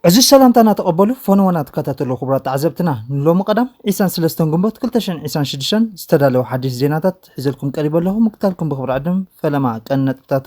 ዕዙዝ ሰላምታ እናተቐበሉ ፈነወና ትከታተሉ ክቡራት ተዓዘብትና ንሎሚ ቀዳም 23 ግንቦት 226 ዝተዳለወ ሓድሽ ዜናታት ሒዘልኩም ቀሪበ ኣለኹ ምክታልኩም ብክብሪ ዕድም ፈለማ ቀን ነጥብታቱ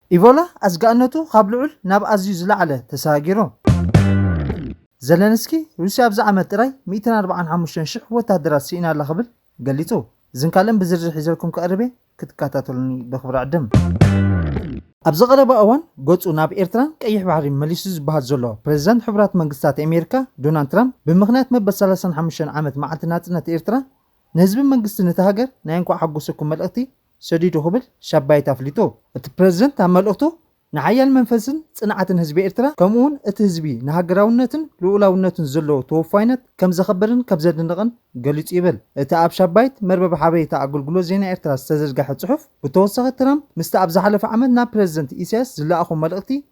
ኢቦላ ኣስጋእነቱ ካብ ልዑል ናብ ኣዝዩ ዝለዓለ ተሰጋጊሩ። ዘለንስኪ ሩስያ ኣብዚ ዓመት ጥራይ ሚእትን ኣርብዓን ሓሙሽተን ሽሕ ወተሃደራት ስኢና ኣላ ክብል ገሊጹ። እዝን ካልእን ብዝርዝር ሒዘልኩም ክቐርብ እየ ክትከታተሉኒ በኽብሪ ዕድም። ኣብዚ ቀረባ እዋን ገጹ ናብ ኤርትራን ቀይሕ ባሕሪን መሊሱ ዝበሃል ዘሎ ፕረዚዳንት ሕቡራት መንግስታት ኤሜሪካ ዶናልድ ትራምፕ ብምኽንያት መበል ሰላሳን ሓሙሽተን ዓመት መዓልቲ ናጽነት ኤርትራ ንህዝብን መንግስትን እታ ሃገር ናይ እንኳዕ ሓጎሰኩም መልእኽቲ ሰዲዱ ክብል ሻባይት ኣፍሊጡ። እቲ ፕረዚደንት ኣብ መልእኽቱ፣ ንሓያል መንፈስን ጽንዓትን ህዝቢ ኤርትራ ከምኡ'ውን እቲ ህዝቢ ንሃገራውነትን ልኡላውነትን ዘለዎ ተወፋይነት ከም ዘኸብርን ከም ዘድንቕን ገሊጹ ይብል እቲ ኣብ ሻባይት መርበብ ሓበሬታ ኣገልግሎት ዜና ኤርትራ ዝተዘርገሐ ጽሑፍ። ብተወሳኺ ትራምፕ ምስቲ ኣብ ዝሓለፈ ዓመት ናብ ፕረዚደንት ኢሳያስ ዝለኣኾ መልእኽቲ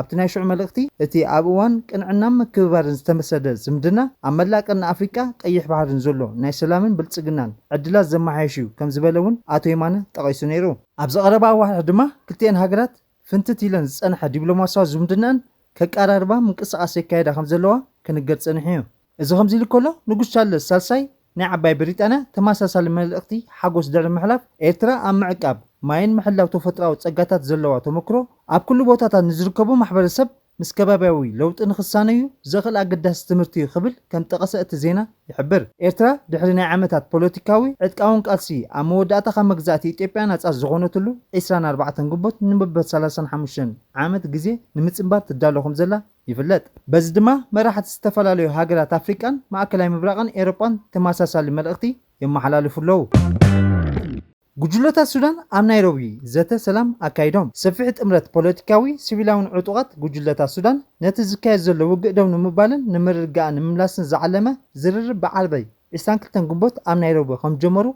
ኣብቲ ናይ ሽዑ መልእኽቲ፣ እቲ ኣብ እዋን ቅንዕናን ምክብባርን ዝተመሰረተ ዝምድና፣ ኣብ መላእ ቀርኒ ኣፍሪቃ ቀይሕ ባሕርን ዘሎ ናይ ሰላምን ብልጽግናን ዕድላት ዘመሓይሽ እዩ ከም ዝበለ እውን ኣቶ የማነ ጠቒሱ ነይሩ። ኣብዚ ቀረባ ኣዋርሕ ድማ ክልቲኤን ሃገራት ፍንትት ኢለን ዝጸንሐ ዲፕሎማስያዊ ዝምድነኣን ከቀራርባ ምንቅስቓስ የካይዳ ከም ዘለዋ ክንገር ጸኒሑ እዩ። እዚ ከምዚ ኢሉ ከሎ ንጉስ ቻርለስ ሳልሳይ ናይ ዓባይ ብሪጣንያ ተመሳሳሊ መልእኽቲ ሓጎስ ድሕሪ ምሕላፍ፣ ኤርትራ ኣብ ምዕቃብ ማይን ምሕላው ተፈጥሮኣዊ ጸጋታት ዘለዋ ተመክሮ ኣብ ኩሉ ቦታታት ንዝርከቡ ማሕበረሰብ ምስ ከባብያዊ ለውጢ ንኽሳነዩ ዘኽእል ኣገዳሲ ትምህርቲዩ ክብል ከም ጠቐሰ እቲ ዜና ይሕብር። ኤርትራ ድሕሪ ናይ ዓመታት ፖለቲካዊ ዕጥቃውን ቃልሲ ኣብ መወዳእታ ካብ መግዛእቲ ኢትዮጵያ ናጻ ዝኾነትሉ ዕስራን ኣርባዕተን ግንቦት ንመበል ሰላሳን ሓሙሽተን ዓመት ግዜ ንምጽንባር ትዳሎ ከምዘላ ይፍለጥ። በዚ ድማ መራሕቲ ዝተፈላለዩ ሃገራት ኣፍሪቃን ማእከላይ ምብራቕን ኤሮጳን ተመሳሳሊ መልእኽቲ የመሓላልፉ ኣለዉ። ጉጅለታት ሱዳን ኣብ ናይሮቢ ዘተ ሰላም ኣካይዶም። ሰፊሕ ጥምረት ፖለቲካዊ፣ ሲቪላውን ዕጡቓት ጉጅለታት ሱዳን ነቲ ዝካየድ ዘሎ ውግእ ደው ንምባልን ንምርግጋእን ንምምላስን ዝዓለመ ዝርርብ ብዓርበይ ዕስራን ክልተን ግንቦት ኣብ ናይሮቢ ከምዝጀመሩ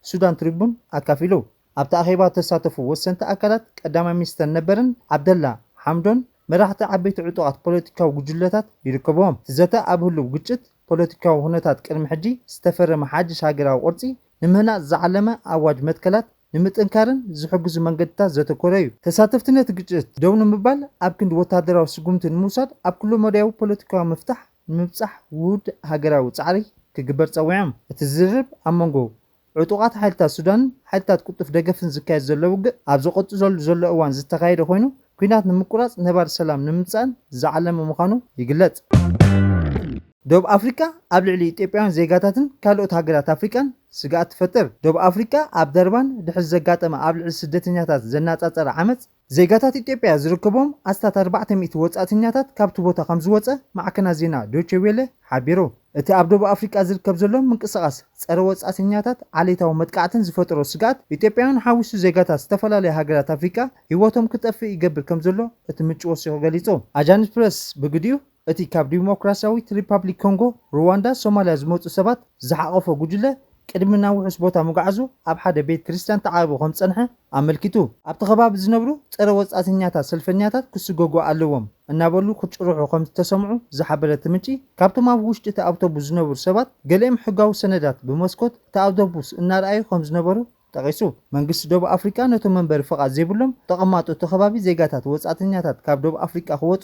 ሱዳን ትሪቡን ኣካፊሉ። ኣብቲ ኣኼባ ዝተሳተፉ ወሰንቲ ኣካላት ቀዳማይ ሚኒስተር ነበርን ዓብደላ ሓምዶን፣ መራሕቲ ዓበይቲ ዕጡቓት ፖለቲካዊ ጉጅለታት ይርከብዎም። እቲ ዘተ ኣብ ህሉው ግጭት፣ ፖለቲካዊ ኩነታት ቅድሚ ሕጂ፣ ዝተፈረመ ሓድሽ ሃገራዊ ቅርጺ ንምህናጽ ዝዓለመ ኣዋጅ መትከላት ንምጥንካርን ዝሕግዙ መንገድታት ዘተኮረ'ዩ። ተሳተፍቲ ነቲ ግጭት ደው ንምባል ኣብ ክንዲ ወተሃደራዊ ስጉምቲ ንምውሳድ ኣብ ኩለመዳያዊ ፖለቲካዊ ምፍታሕ፣ ንምብጻሕ ውሁድ ሃገራዊ ጻዕሪ ክግበር ጸዊዖም። እቲ ዝርርብ ኣብ መንጎ ዕጡቓት ሓይልታት ሱዳንን ሓይልታት ቅልጡፍ ደገፍን ዝካየድ ዘሎ ውግእ ኣብ ዝቕጽለሉ ዘሎ እዋን ዝተኻየደ ኮይኑ፣ ኲናት ንምቁራጽ ነባሪ ሰላም ንምምጻእን ዝዓለመ ምዃኑ ይግለጽ። ዶብ ኣፍሪቃ ኣብ ልዕሊ ኢትዮጵያውያን ዜጋታትን ካልኦት ሃገራት ኣፍሪቃን ስግኣት ትፈጥር። ዶብ ኣፍሪቃ ኣብ ደርባን ድሕሪ ዘጋጠመ ኣብ ልዕሊ ስደተኛታት ዘናጻጸረ ዓመጽ፣ ዜጋታት ኢትዮጵያ ዝርከብዎም ኣስታት ኣርባዕተ ሚእቲ ወጻእተኛታት ካብቲ ቦታ ከምዝወጸ ማዕከናት ዜና ዶቼ ዌለ ሓቢሩ። እቲ ኣብ ደቡብ ኣፍሪቃ ዝርከብ ዘሎ ምንቅስቓስ ጸረ ወጻእተኛታት ዓሌታዊ መጥቃዕትን ዝፈጠሮ ስግኣት ኢትዮጵያውያን ሓዊሱ ዜጋታት ዝተፈላለያ ሃገራት ኣፍሪቃ ህይወቶም ክጠፍእ ይገብር ከምዘሎ እቲ ምንጪ ወሲኹ ገሊጹ። ኣጃንስ ፕረስ ብግዲኡ፣ እቲ ካብ ዲሞክራስያዊት ሪፓብሊክ ኮንጎ፣ ሩዋንዳ፣ ሶማልያ ዝመጹ ሰባት ዝሓቖፈ ጉጅለ፣ ቅድሚ ናብ ውሑስ ቦታ ምጕዓዙ ኣብ ሓደ ቤት ክርስትያን ተዓቚቡ ከም ዝጸንሐ ኣመልኪቱ። ኣብቲ ከባቢ ዝነብሩ ጸረ ወጻእተኛታት ሰልፈኛታት ክስጐጉ ኣለዎም እናበሉ ክጭርሑ ከም ዝተሰምዑ ዝሓበረ እቲ ምንጪ፣ ካብቶም ኣብ ውሽጢ እቲ ኣውቶቡስ ዝነበሩ ሰባት ገሊኦም ሕጋዊ ሰነዳት ብመስኮት እቲ ኣውቶቡስ እናርኣዩ ከም ዝነበሩ ጠቒሱ። መንግስቲ ደቡብ ኣፍሪቃ ነቶም መንበሪ ፍቓድ ዘይብሎም ተቐማጦ እቲ ከባቢ ዜጋታት ወጻእተኛታት ካብ ደቡብ ኣፍሪቃ ክወጹ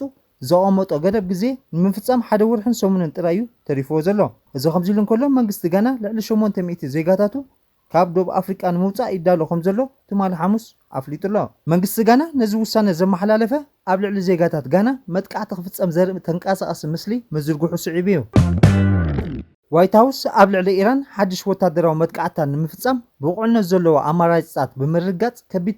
ዘቐመጦ ገደብ ግዜ ንምፍጻም ሓደ ወርሕን ሰሙንን ጥራይ እዩ ተሪፍዎ ዘሎ። እዚ ከምዚሉ እንከሎ መንግስቲ ጋና ልዕሊ ሸሞንተ ሚእቲ ዜጋታቱ ካብ ዶብ ኣፍሪቃ ንምውጻእ ይዳሎ ከምዘሎ ትማሊ ሓሙስ ኣፍሊጡ'ሎ። መንግስቲ ጋና ነዚ ውሳነ ዘመሓላለፈ ኣብ ልዕሊ ዜጋታት ጋና መጥቃዕቲ ክፍጸም ዘርእም ተንቃሳቓሲ ምስሊ ምዝርግሑ ስዒቡ እዩ። ዋይት ሃውስ ኣብ ልዕሊ ኢራን ሓድሽ ወታደራዊ መጥቃዕትታት ንምፍጻም ብቑዕነት ዘለዎ ኣማራጺታት ብምርግጋጽ ከቢድ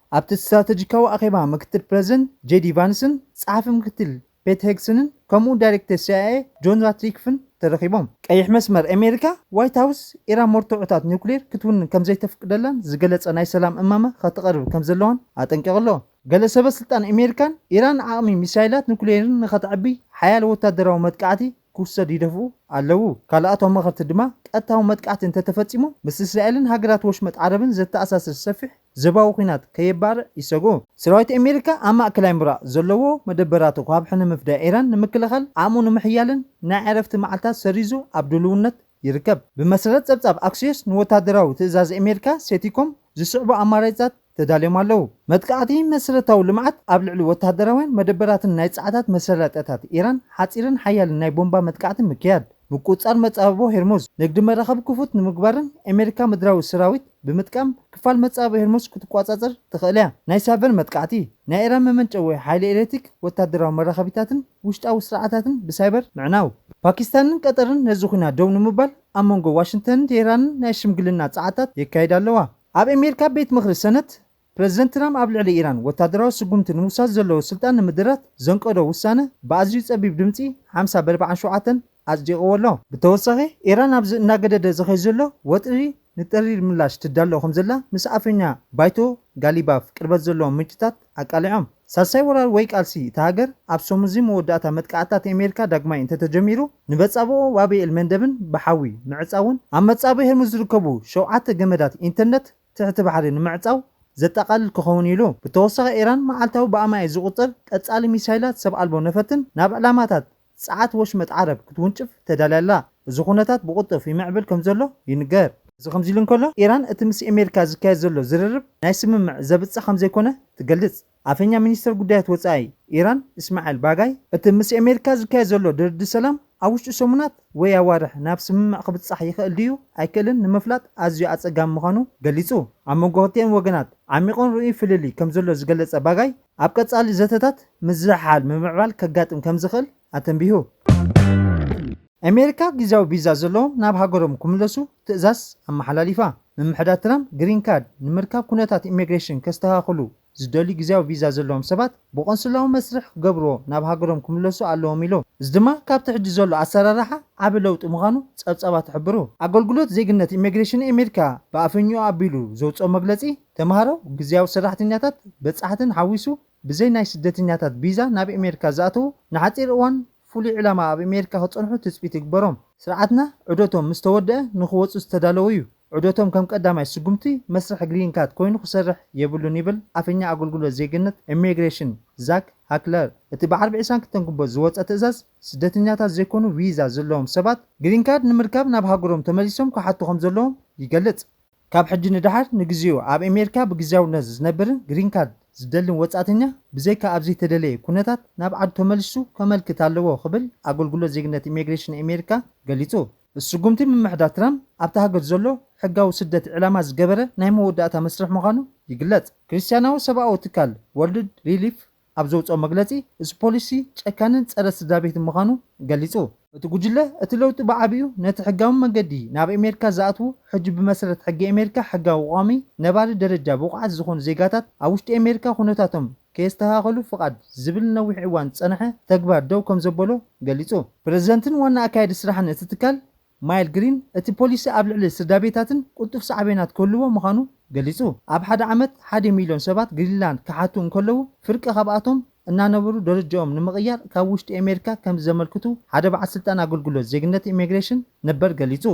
ኣብቲ ስትራተጂካዊ ኣኼባ ምክትል ፕረዚደንት ጄዲ ቫንስን ጸሓፊ ምክትል ፔት ሄግሰንን ከምኡ'ውን ዳይሬክተር ሲኣይኤ ጆን ራትክሊፍን ተረኺቦም። ቀይሕ መስመር ኣሜሪካ፣ ዋይት ሃውስ ኢራን መርትዖታት ኒውክሌር ክትውንን ከም ዘይተፍቅደላን ዝገለጸ ናይ ሰላም እማመ ከተቕርብ ከም ዘለዋን ኣጠንቂቑ ኣሎ። ገለ ሰበስልጣን ኣሜሪካን፣ ኢራን ዓቕሚ ሚሳይላት ኑክሌርን ንኸተዕቢ ሓያል ወታደራዊ መጥቃዕቲ ክውሰድ ይደፍኡ ኣለዉ። ካልኣት ኣማኸርቲ ድማ ቀጥታዊ መጥቃዕቲ እንተተፈጺሙ ምስ እስራኤልን ሃገራት ወሽመጥ ዓረብን ዘተኣሳስር ሰፊሕ ዘባዊ ኲናት ከየባርዕ ይሰግኡ። ሰራዊት ኣሜሪካ ኣብ ማእከላይ ምብራቕ ዘለዎ መደበራቱ ካብ ሕነ ምፍዳይ ኢራን ንምክልኻል ዓቕሙ ንምሕያልን ናይ ዕረፍቲ መዓልታት ሰሪዙ ኣብ ድሉውነት ይርከብ። ብመሰረት ጸብጻብ ኣክሲዮስ ንወታደራዊ ትእዛዝ ኣሜሪካ፣ ሴቲኮም፣ ዝስዕቡ ኣማራጺታት ተዳልዮም ኣለዉ። መጥቃዕቲ መሰረታዊ ልምዓት፣ ኣብ ልዕሊ ወተሃደራውያን መደበራትን ናይ ጸዓታት መሰረጠታት ኢራን ሓጺርን ሓያልን ናይ ቦምባ መጥቃዕቲ ምክያድ፣ ምቁጽጻር መጻብቦ ሄርሙዝ፣ ንግዲ መራኽብ ክፉት ንምግባርን ኣሜሪካ ምድራዊ ሰራዊት ብምጥቃም ክፋል መጻብቦ ሄርሙዝ ክትቆጻጸር ትኽእል'ያ። ናይ ሳይበር መጥቃዕቲ፣ ናይ ኢራን መመንጨዊ ሓይሊ ኤሌክትሪክ፣ ወተሃደራዊ መራኸቢታትን፣ ውሽጣዊ ስርዓታትን ብሳይበር ምዕናው። ፓኪስታንን ቀጠርን ነዚ ኹናት ደው ንምባል ኣብ መንጎ ዋሽንግተንን ቴህራንን ናይ ሽምግልና ጸዓታት የካይዳ ኣለዋ። ኣብ ኣሜሪካ ቤት ምኽሪ ሰነት፣ ፕረዚደንት ትራም ኣብ ልዕሊ ኢራን ወታደራዊ ስጉምቲ ንምውሳድ ዘለዎ ስልጣን ንምድራት ዘንቀዶ ውሳነ ብኣዝዩ ጸቢብ ድምጺ ሓምሳ በርብዓን ሸውዓተን ኣጽዲቕዎ ኣሎ። ብተወሳኺ፣ ኢራን ኣብዚ እናገደደ ዝኸይድ ዘሎ ወጥሪ ንጠሪር ምላሽ ትዳሎ ከምዘላ ምስ ኣፈኛ ባይቶ ጋሊባፍ ቅርበት ዘለዎም ምንጭታት ኣቃሊዖም። ሳልሳይ ወራር ወይ ቃልሲ እታ ሃገር ኣብ ሰሙን'ዚ መወዳእታ መጥቃዕትታት ኣሜሪካ ዳግማይ እንተተጀሚሩ፣ ንበጻብኦ ባብ ኤል-መንደብን ብሓዊ ምዕጻውን ኣብ መጻብእ ሄርሙዝ ዝርከቡ ሸውዓተ ገመዳት ኢንተርነት ትሕቲ ባሕሪ ንምዕጻው ዘጠቓልል ክኸውን'ዩ ኢሉ። ብተወሳኺ፣ ኢራን መዓልታዊ ብኣማኢት ዝቑጸር ቀጻሊ ሚሳይላት ሰብ ኣልቦ ነፈርትን ናብ ዕላማታት ጸዓት ወሽመጥ ዓረብ ክትውንጭፍ ተዳልያ ኣላ። እዚ ኩነታት ብቕልጡፍ ይምዕብል ከምዘሎ ይንገር። እዚ ከምዚሉ እንከሎ፣ ኢራን እቲ ምስ ኣሜሪካ ዝካየድ ዘሎ ዝርርብ ናይ ስምምዕ ዘብጽሕ ከምዘይኮነ ትገልጽ። ኣፈኛ ሚኒስተር ጉዳያት ወጻኢ ኢራን እስማዒል ባጋይ፣ እቲ ምስ ኣሜሪካ ዝካየድ ዘሎ ድርድር ሰላም ኣብ ውሽጢ ሰሙናት ወይ ኣዋርሕ ናብ ስምምዕ ክብጻሕ ይኽእል ድዩ ኣይክእልን ንምፍላጥ ኣዝዩ ኣጸጋሚ ምዃኑ ገሊጹ። ኣብ መንጎ ክልቲኤን ወገናት ዓሚቝን ርኡይን ፍልልይ ከምዘሎ ዝገለጸ ባጋይ፣ ኣብ ቀፃሊ ዘተታት ምዝሕሓል ምምዕባል ከጋጥም ከምዝኽእል ኣተንቢሁ። ኣሜሪካ ጊዚያዊ ቪዛ ዘለዎም ናብ ሃገሮም ክምለሱ ትእዛዝ ኣመሓላሊፋ። ምምሕዳር ትራምፕ ግሪን ካርድ ንምርካብ ኩነታት ኢሚግሬሽን ከስተኻኽሉ ዝደልዩ ጊዚያዊ ቪዛ ዘለዎም ሰባት ብቆንስላዊ መስርሕ ክገብርዎ ናብ ሃገሮም ክምለሱ ኣለዎም ኢሉ። እዚ ድማ ካብቲ ሕጂ ዘሎ ኣሰራርሓ ዓቢ ለውጢ ምዃኑ ፀብፃባት ይሕብሩ። ኣገልግሎት ዜግነት ኢሚግሬሽን ኣሜሪካ ብኣፈኛኡ ኣቢሉ ዘውፅኦ መግለፂ፣ ተምሃሮ፣ ግዝያዊ ሰራሕተኛታት፣ በጻሕትን ሓዊሱ ብዘይ ናይ ስደተኛታት ቪዛ ናብ ኤሜሪካ ዝኣተዉ ንሓጺር እዋን ፍሉይ ዕላማ ኣብ ኤሜሪካ ክጸንሑ ትጽቢት ይግበሮም። ስርዓትና ዑደቶም ምስ ተወደኣ ንኽወጹ ዝተዳለወ'ዩ። ዑደቶም ከም ቀዳማይ ስጉምቲ መስርሕ ግሪን ካርድ ኮይኑ ክሰርሕ የብሉን ይብል ኣፈኛ ኣገልግሎት ዜግነት ኤሜግሬሽን ዛክ ሃክለር። እቲ ብዓርቢ ዕስራን ክልተን ግንቦት ዝወጸ ትእዛዝ ስደተኛታት ዘይኮኑ ቪዛ ዘለዎም ሰባት ግሪን ካርድ ንምርካብ ናብ ሃገሮም ተመሊሶም ክሓቱ ከምዘለዎም ይገልጽ። ካብ ሕጂ ንደሓር ንግዜኡ ኣብ ኤሜሪካ ብግዝያውነት ዝነብርን ግሪን ካርድ ዝደልን ወጻእተኛ ብዘይካ ኣብ ዘይተደለየ ኩነታት ናብ ዓዱ ተመሊሱ ከመልክት ኣለዎ ክብል ኣገልግሎት ዜግነት ኢሜግሬሽን ኤሜሪካ ገሊጹ። እዚ ስጉምቲ ምምሕዳር ትራምፕ ኣብታ ሃገር ዘሎ ሕጋዊ ስደት ዒላማ ዝገበረ ናይ መወዳእታ መስርሕ ምዃኑ ይግለጽ። ክርስትያናዊ ሰብኣዊ ትካል ወርልድ ሪሊፍ ኣብ ዘውጽኦ መግለጺ፣ እዚ ፖሊሲ ጨካንን ጸረ ስድራቤትን ምዃኑ ገሊጹ። እቲ ጉጅለ፣ እቲ ለውጢ ብዓቢኡ ነቲ ሕጋዊ መንገዲ ናብ ኤሜሪካ ዝኣትዉ፣ ሕጂ ብመሰረት ሕጊ ኤሜሪካ ሕጋዊ ቋሚ ነባሪ ደረጃ ብቑዓት ዝኾኑ ዜጋታት ኣብ ውሽጢ ኤሜሪካ ኩነታቶም ከየስተኻኸሉ ፍቓድ ዝብል ንነዊሕ እዋን ዝጸንሐ ተግባር ደው ከምዘበሎ ገሊጹ። ፕረዚደንትን ዋና ኣካያዲ ስራሕን እቲ ትካል ማይል ግሪን፣ እቲ ፖሊሲ ኣብ ልዕሊ ስድራቤታትን ቅልጡፍ ሳዕቤናት ክህልዎ ምዃኑ ገሊጹ። ኣብ ሓደ ዓመት ሓዲ ሚልዮን ሰባት ግሪንላንድ ክሓቱ እንከለዉ፣ ፍርቂ ካብኣቶም እናነበሩ ደረጃኦም ንምቕያር ካብ ውሽጢ ኣሜሪካ ከም ዘመልክቱ ሓደ በዓል ስልጣን ኣገልግሎት ዜግነት ኢሚግሬሽን ነበር ገሊጹ።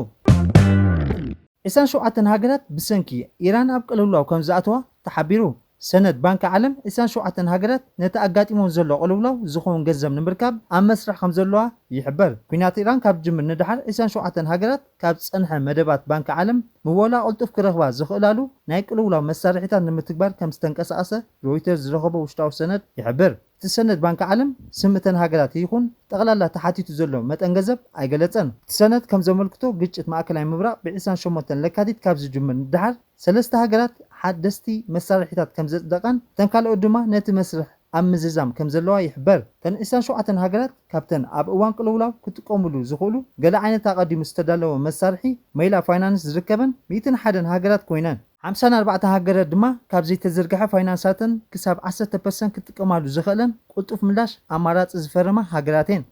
ዕስራን ሸውዓተን ሃገራት ብሰንኪ ኢራን ኣብ ቅልውላው ከም ዝኣተዋ ተሓቢሩ። ሰነድ ባንኪ ዓለም ዕስራን ሸውዓተን ሃገራት ነቲ ኣጋጢሙወን ዘሎ ቅልውላው ዝኸውን ገንዘብ ንምርካብ ኣብ መስርሕ ከምዘለዋ ይሕበር። ኲናት ኢራን ካብ ዝጅምር ንደሓር ዕስራን ሸውዓተን ሃገራት ካብ ዝጸንሐ መደባት ባንኪ ዓለም ምወላ ቅልጡፍ ክረኽባ ዝኽእላሉ ናይ ቅልውላው መሳርሒታት ንምትግባር ከምዝተንቀሳቐሰ ሮይተርስ ዝረኸቦ ውሽጣዊ ሰነድ ይሕብር። እቲ ሰነድ ባንኪ ዓለም ስም እተን ሃገራት ይኹን ጠቕላላ ተሓቲቱ ዘሎ መጠን ገንዘብ ኣይገለጸን። እቲ ሰነድ ከምዘመልክቶ ግጭት ማእከላይ ምብራቕ ብዕስራን ሸሞንተን ለካቲት ካብ ዝጅምር ንደሓር፣ ሰለስተ ሃገራት ሓደስቲ መሳርሒታት ከምዘጽደቓን እተን ካልኦት ድማ ነቲ መስርሕ ኣብ ምዝዛም ከምዘለዋ ይሕበር። እተን ዕስራን ሸውዓተን ሃገራት ካብተን ኣብ እዋን ቅልውላው ክጥቀሙሉ ዝኽእሉ ገለ ዓይነት ኣቐዲሙ ዝተዳለወ መሳርሒ መይላ ፋይናንስ ዝርከበን ሚእትን ሓደን ሃገራት ኮይነን፣ ሓምሳን ኣርባዕተን ሃገራት ድማ ካብ ዘይተዘርግሐ ፋይናንሳተን ክሳብ ዓሰርተ ፐርሰንት ክጥቀማሉ ዝኽእለን ቅልጡፍ ምላሽ ኣማራጺ ዝፈረማ ሃገራት'የን።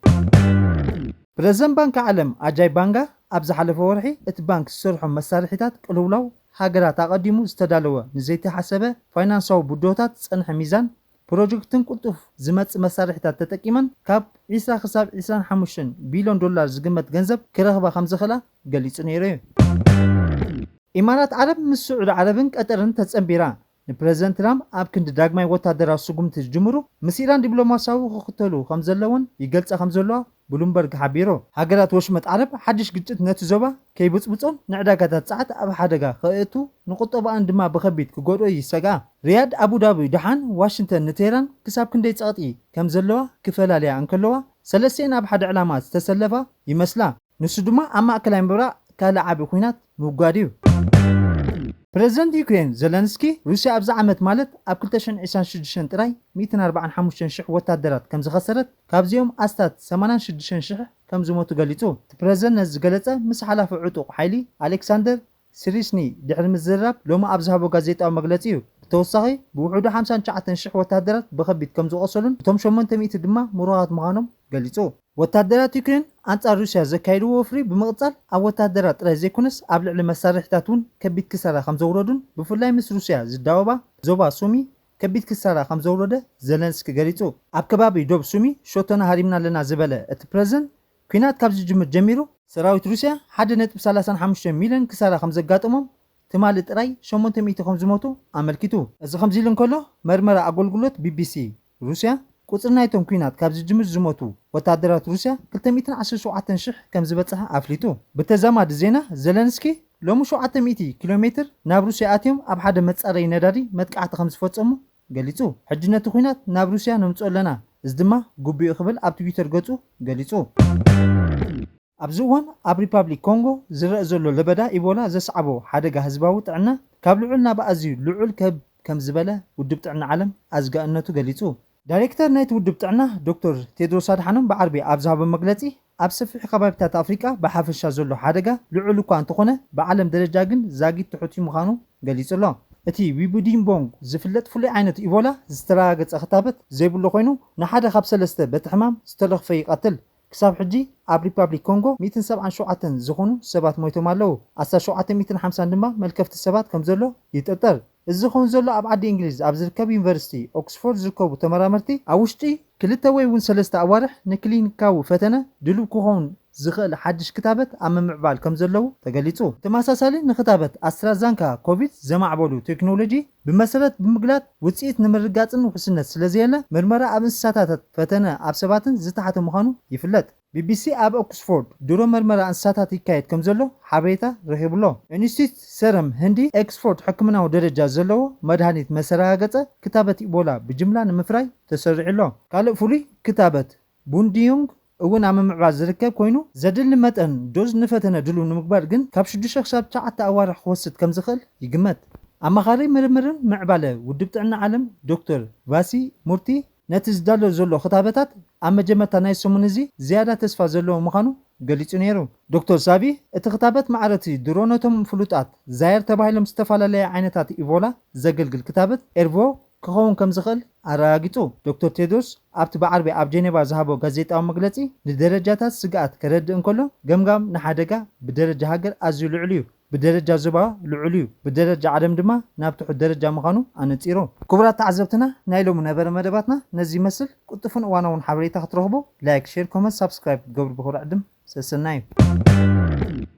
ፕረዚደንት ባንኪ ዓለም ኣጃይ ባንጋ፣ ኣብ ዝሓለፈ ወርሒ እቲ ባንክ ዝሰርሖም መሳርሒታት ቅልውላው ሃገራት ኣቐዲሙ ዝተዳለወ ንዘይተሓሰበ ፋይናንሳዊ ብድሆታት ዝጸንሐ ሚዛን ፕሮጀክትን ቅልጡፍ ዝመጽእ መሳርሒታት ተጠቂመን ካብ ዕስራ ክሳብ ዕስራን ሓሙሽተን ቢልዮን ዶላር ዝግመት ገንዘብ ክረኽባ ከምዝኽእላ ገሊጹ ነይሩ'ዩ። ኢማራት ዓረብ ምስ ስዑዲ ዓረብን ቀጠርን ተጸንቢራ ንፕረዚደንት ትራምፕ ኣብ ክንዲ ዳግማይ ወታደራዊ ስጉምቲ ዝጅምሩ፣ ምስ ኢራን ዲፕሎማስያዊ ክኽተሉ ከም ዘለዎን ይገልጻ ከም ዘለዋ ብሉምበርግ ሓቢሩ። ሃገራት ወሽመጥ ዓረብ ሓድሽ ግጭት ነቲ ዞባ ከይብጽብጾን ንዕዳጋታት ጸዓት ኣብ ሓደጋ ከእቱ፣ ንቁጠባኣን ድማ ብኸቢድ ክጎድኦ ይሰግኣ። ሪያድ፣ ኣቡዳቢ ደሓን ዋሽንተን ንቴህራን ክሳብ ክንደይ ጸቕጢ ከም ዘለዋ ክፈላልያ እንከለዋ፣ ሰለስቲኤን ኣብ ሓደ ዕላማ ዝተሰለፋ ይመስላ። ንሱ ድማ ኣብ ማእከላይ ምብራቕ ካልእ ዓቢ ኲናት ምውጋድ እዩ። ፕረዚደንት ዩክረይን ዘለንስኪ፣ ሩስያ ኣብዚ ዓመት ማለት ኣብ ክልተ ሽሕን ዒስራን ሽዱሽተን ጥራይ ሚእትን ኣርባዓን ሓሙሽተን ሽሕ ወተሃደራት ከምዝኸሰረት፣ ካብዚኦም ኣስታት ሰማንያን ሽዱሽተን ሽሕ ከምዝሞቱ ገሊጹ። እቲ ፕረዚደንት ነዚ ዝገለጸ ምስ ሓላፊ ዕጡቕ ሓይሊ ኣሌክሳንደር ስሪስኒ ድሕሪ ምዝርራብ ሎሚ ኣብ ዝሃቦ ጋዜጣዊ መግለጺ እዩ። ብተወሳኺ ብውሑዱ ሓምሳን ትሽዓተን ሽሕ ወተሃደራት ብኸቢድ ከም ዝቖሰሉን እቶም ሸሞንተ ሚእቲ ድማ ምሩኻት ምዃኖም ገሊጹ። ወተሃደራት ዩክሬን ኣንጻር ሩስያ ዘካየድዎ ወፍሪ ብምቕጻል ኣብ ወተሃደራት ጥራይ ዘይኮነስ ኣብ ልዕሊ መሳርሒታት እውን ከቢድ ክሳራ ከም ዘውረዱን ብፍላይ ምስ ሩስያ ዝዳወባ ዞባ ሱሚ ከቢድ ክሳራ ከም ዘውረደ ዘለንስኪ ገሊጹ። ኣብ ከባቢ ዶብ ሱሚ ሸቶና ሃሪምና ኣለና ዝበለ እቲ ፕረዚደንት፣ ኲናት ካብ ዝጅምር ጀሚሩ፣ ሰራዊት ሩስያ ሓደ ነጥቢ ሰላሳን ሓሙሽተን ሚልዮን ክሳራ ከምዘጋጠሞም፣ ትማሊ ጥራይ ሸሞንተ ሚእቲ ከምዝሞቱ ኣመልኪቱ። እዚ ከምዚ'ሉ እንከሎ፣ መርመራ ኣጎልጉሎት ቢቢሲ ሩስያ፣ ቁጽሪ ናይቶም ኲናት ካብ ዝጅምር ዝሞቱ ወተሃደራት ሩስያ ክልተ ሚእትን ዓሰርተ ሸውዓተን ሽሕ ከምዝበጸሐ ኣፍሊጡ። ብተዛማዲ ዜና፣ ዘለንስኪ ሎሚ ሸውዓተ ሚእቲ ኪሎሜትር ናብ ሩስያ ኣትዮም ኣብ ሓደ መጻረዪ ነዳዲ መጥቃዕቲ ከምዝፈጸሙ ገሊጹ። ሕጂ ነቲ ኵናት ናብ ሩስያ ነምጽኦ ኣለና፣ እዚ ድማ ግቡእ'ዩ ክብል ኣብ ትዊተር ገጹ ገሊጹ። ኣብዚ እዋን ኣብ ሪፓብሊክ ኮንጎ ዝረእ ዘሎ ለበዳ ኢቦላ ዘስዓቦ ሓደጋ ህዝባዊ ጥዕና ካብ ልዑል ናብ ኣዝዩ ልዑል ክብ ከም ዝበለ ውድብ ጥዕና ዓለም ኣዝጋእነቱ ገሊጹ። ዳይሬክተር ናይቲ ውድብ ጥዕና ዶክተር ቴድሮስ ኣድሓኖም ብዓርቢ ኣብ ዝሃቦ መግለጺ፣ ኣብ ሰፊሕ ከባቢታት ኣፍሪቃ ብሓፈሻ ዘሎ ሓደጋ ልዑል እኳ እንተኾነ ብዓለም ደረጃ ግን ዛጊት ትሑት'ዩ ምዃኑ ገሊጹ'ሎ። እቲ ዊቡዲምቦንግ ዝፍለጥ ፍሉይ ዓይነት ኢቦላ ዝተረጋገጸ ክታበት ዘይብሉ ኮይኑ ንሓደ ካብ ሰለስተ በቲ ሕማም ዝተለኽፈ ይቐትል። ክሳብ ሕጂ ኣብ ሪፓብሊክ ኮንጎ ሚእትን ሰብዓን ሸውዓተን ዝኾኑ ሰባት ሞይቶም ኣለዉ፣ ኣስታት ሸውዓተ ሚእትን ሓምሳን ድማ መልከፍቲ ሰባት ከምዘሎ ይጥርጠር። እዚ ዝኸውን ዘሎ ኣብ ዓዲ እንግሊዝ ኣብ ዝርከብ ዩኒቨርሲቲ ኦክስፎርድ ዝርከቡ ተመራመርቲ ኣብ ውሽጢ ክልተ ወይ እውን ሰለስተ ኣዋርሕ ንክሊኒካዊ ፈተነ ድሉው ክኸውን ዝኽእል ሓድሽ ክታበት ኣብ ምምዕባል ከም ዘለዉ ተገሊጹ። ብተመሳሳሊ ንክታበት ኣስትራዛንካ ኮቪድ ዘማዕበሉ ቴክኖሎጂ ብመሰረት ብምግላጽ ውጽኢት ንምርግጋጽን ውሕስነት ስለዘየለ ምርመራ ኣብ እንስሳታታት ፈተነ ኣብ ሰባትን ዝተሓተ ምዃኑ ይፍለጥ። ቢቢሲ ኣብ ኦክስፎርድ ድሮ መርመራ እንስሳታት ይካየድ ከምዘሎ ሓበሬታ ረኺቡ'ሎ። ኢንስቲትዩት ሰረም ህንዲ ኤክስፎርድ ሕክምናዊ ደረጃ ዘለዎ መድሃኒት መሰረጋገጸ ክታበት ኢቦላ ብጅምላ ንምፍራይ ተሰሪዑ'ሎ። ካልእ ፍሉይ ክታበት ቡንዲዩንግ እውን ኣብ ምምዕባል ዝርከብ ኮይኑ፣ ዘድሊ መጠን ዶዝ ንፈተነ ድሉው ንምግባር ግን ካብ ሽዱሽተ ክሳብ ትሽዓተ ኣዋርሕ ክወስድ ከምዝኽእል ይግመት። ኣማኻሪ ምርምርን ምዕባለ ውድብ ጥዕና ዓለም ዶክተር ቫሲ ሙርቲ፣ ነቲ ዝዳሎ ዘሎ ክታበታት ኣብ መጀመርታ ናይዚ ሰሙን እዚ ዝያዳ ተስፋ ዘለዎ ምዃኑ ገሊጹ ነይሩ። ዶክተር ሳቢ፣ እቲ ክታበት ማዕረ'ቲ ድሮ ነቶም ፍሉጣት ዛየር ተባሂሎም ዝተፈላለየ ዓይነታት ኢቮላ ዘገልግል ክታበት ኤርቮ ክኸውን ከም ዝኽእል ኣረጋጊጹ። ዶክተር ቴድሮስ ኣብቲ ብዓርቢ ኣብ ጀኔቫ ዝሃቦ ጋዜጣዊ መግለጺ ንደረጃታት ስግኣት ከረድእ እንከሎ ገምጋም ንሓደጋ ብደረጃ ሃገር ኣዝዩ ልዑል'ዩ፣ ብደረጃ ዞባ ልዑል'ዩ፣ ብደረጃ ዓለም ድማ ናብ ትሑት ደረጃ ምዃኑ ኣነጺሩ። ክቡራት ተዓዘብትና ናይ ሎሚ ነበረ መደባትና ነዚ ይመስል፣ ቅልጡፍን እዋናውን ሓበሬታ ክትረኽቡ ላይክ ሼር ኮመንት ሳብስክራይብ ክትገብሩ ብኽብሪ ዕድም፣ ሰሰናዩ።